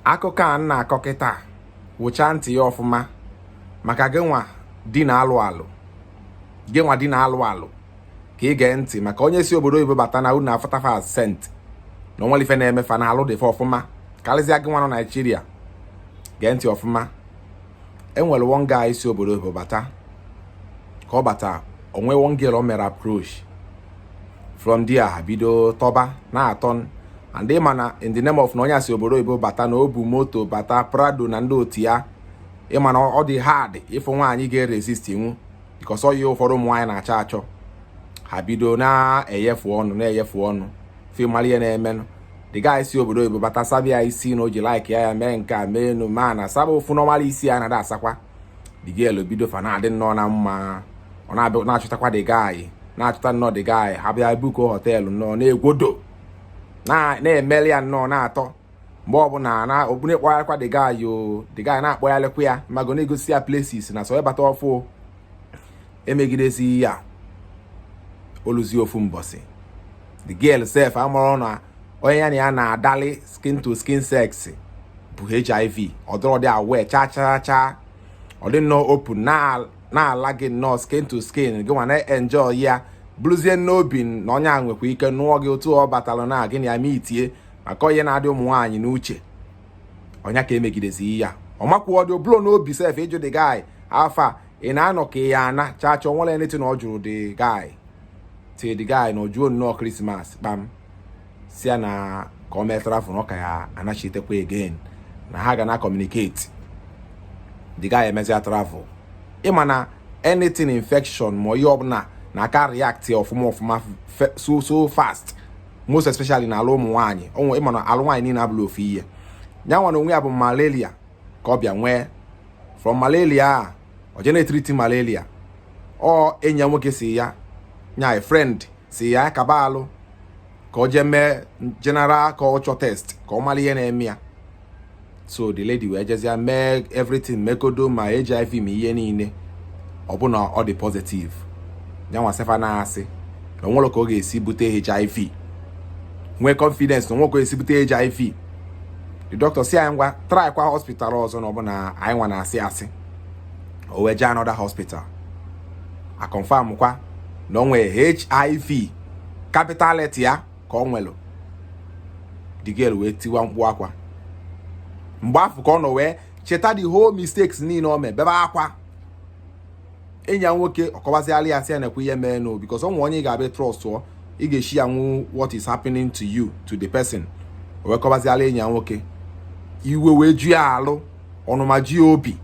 akụkọ a m na-akọ kịta wụchaa ntị ya ọfụma maka gị nwa di na-alụ alụ gị nwa di na-alụ alụ ka ị gee ntị maka onye si obodo oyibo bata na unu afụta fa saint na onwerọ ife na-eme fa na alụ dị fa ọfụma karịzịa gị nwa nọ naijiria gee ntị ọfụma enwere one guy si obodo oyibo bata ka ọ bata o nwee one girl o mere approach from there ha bido tọba na-atọ and ịma na in the name of na onye a si obodo oyibo bata na o bu moto bata prado na ndị otu ya ịma na ọ dị hard ịfụ nwaanyị ga-eresist inwu because ọ ya ụfọdụ ụmụ nwaanyị na-achọ achọ ha bido na-eyefu ọnụ na-eyefu ọnụ ị mara ihe na-emenụ the guy si obodo oyibo bata saba isi na o ji like ya ya mee nke a mee enu ma na saba ofu normal isi ya na-ada asakwa the girl bido fa na-adị nnọọ na mma ọ na-abịa na-achọtakwa the guy na-achọta nnọọ the guy ha bịa book hotel nnọọ na-egwodo na-emeli ya nnọọ na-atọ mgbe ọbụla na okpune kpọgharịkwa the guy o the guy na-akpọgharịkwa ya mago na-egosi ya places na so ịbata ọfụụ emegidezi ya oluzie ofu mbọsị the girl sef amarọ na onye ya na ya na-adali skin to skin sex bu hiv ọ dịrọdị aware chaa chaa chaa ọ dị nnọọ open na-ala gị nnọọ skin to skin gị nwa na-enjoy ya buruzie n'obi na onye a nwekwa ike nụọ gị otu ọ batara na gị na ya meetie maka ọ ya na-adị ụmụ nwaanyị n'uche ọ ya ka emegidezi ya ọ makwọdị o burọ n'obi sef ịjụ the guy afa ị na-anọ ka ya ana chaa chaa onwerọ anything ọ jụrụ the guy till the guy nọjuo nnọọ christmas kpam sị ya na ka o mee travel na ọ ka ya-anachitekwa again na ha ga na communicate the guy emezia travel ịma na anything infection ma ihe ọbụla na-aka react ọfụma ọfụma so so fast most especially na alụ ụmụ nwaanyị ịma na alụ nwaanyị niile abụrọ ofu ihe ya nwa na onwe ya bụ malaria ka ọ bịa nwee from malaria a ọ jee na-etreat malaria ọ enyi ya nwoke sị ya nya friend sị ya kaba alụ ka ọ jee mee general culture test ka ọ mara ihe na-eme ya so the lady wee jezia mee everything mekodo ma hiv ma ihe niile ọ bụ na ọ dị positive ya nwa sef na-asị na onwerọ ka ọ ga-esi bute hiv nwee confidence na onwerọ ka ọ ga-esi bute hiv the doctor sị ya ngwa try kwa hospital ọzọ na ọ bụ na anyị nwa na-asị asị o wee jee another hospital a confirm kwa na o nwere hiv capital letter ya ka ọ nwelụ the girl wee tiwa mkpu akwa mgbe afụ ka ọ nọ wee cheta the whole mistakes niile o mee bebe akwa enyi ya nwoke ọ kọbazịala ya sị ya nekwa ihe meenụ because o nwe onye ị ga-abịa trust ị ga-eshi ya nwụ what is happening to you to the person o wee kọbazịala enyi ya nwoke iwe wee ju ya alụ ọnụma ji ya obi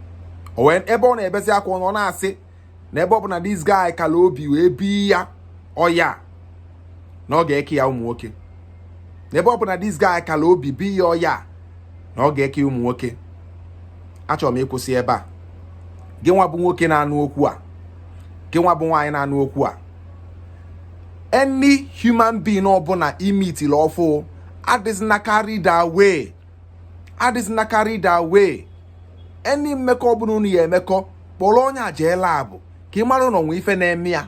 o wee ebe ọ na-ebezi akwa ọ na-asị na ebe ọ bụ na this guy kala obi wee bi ya ọya na ọ ga-eke ya ụmụ nwoke ebe ọ bụ na this guy kala obi bi ya ọya na ọ ga-eke ụmụ nwoke achọrọ m ịkwụsị ebe a gị nwa bụ nwoke na-anụ okwu a gị nwa bụ nwaanyị na-anụ okwu a any human being ọbụla ị meetili ọfụ adịzina carried away adịzina carried away any mmekọ ọbụla unu ya-emekọ kpọrọ onye a jee lab ka ị mara na o nwe ife na-eme ya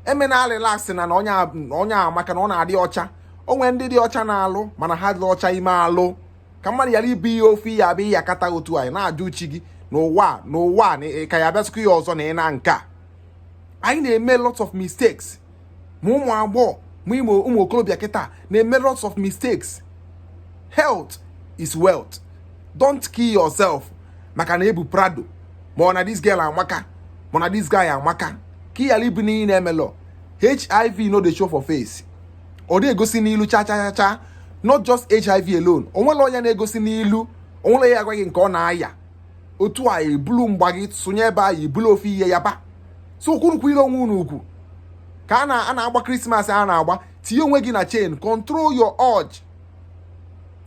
emena relax na na onye a amaka na ọ na-adị ọcha o nwe ndị dị ọcha na-alụ mana ha adị ọcha ime alụ ka mmadụ yala ibu ihe ofe ya abịa ya kata otu anyị na-ajụ chi gị n'ụwa n'ụwa ka ya bịasịkwa ya ọzọ na ị na nke a anyị na-eme lots of mistakes ma ụmụ agbọghọ ma ụmụ okorobịa kịta na-eme lots of mistakes health is wealth don't kill yourself maka na ebu prado ma ọ na this girl amaka ma na this guy amaka ka ị yala ibu n'iyi na-emelọ hiv no dey show for face ọ dị egosi n'ilu cha cha cha cha not just hiv alone o nwere ọya na-egosi n'ilu o nwere onye ya-agwa gị nke ọ na-aya otu a ebulu mgba gị sonye ebe a ebulu ofe ihe ya ba so kwurukwu ire onwe unu ugwu ka a na-agba Christmas a na-agba tinye onwe gị na chain control your urge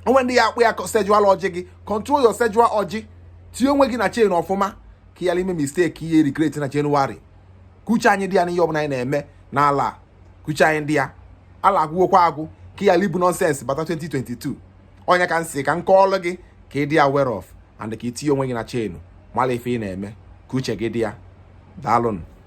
o nwe ndị ya-akpọ ya sexual urge gị control your sexual urge tinye onwe gị na chain ọfụma ka ị yala ime mistake ị ya-regret na January ka uche anyị dị ya n'ihe ọbụla anyị na-eme n'alọ a ka uche anyị dị ya alọ agwụgwokwa agwụ ka ị yala ibu nonsense bata 2022 ọ nya ka m sị ka m kọọlụ gị ka ị dị aware of and ka i tinye onwe gị na chain mala ife ị na-eme ka uche gị dị ya daalụnụ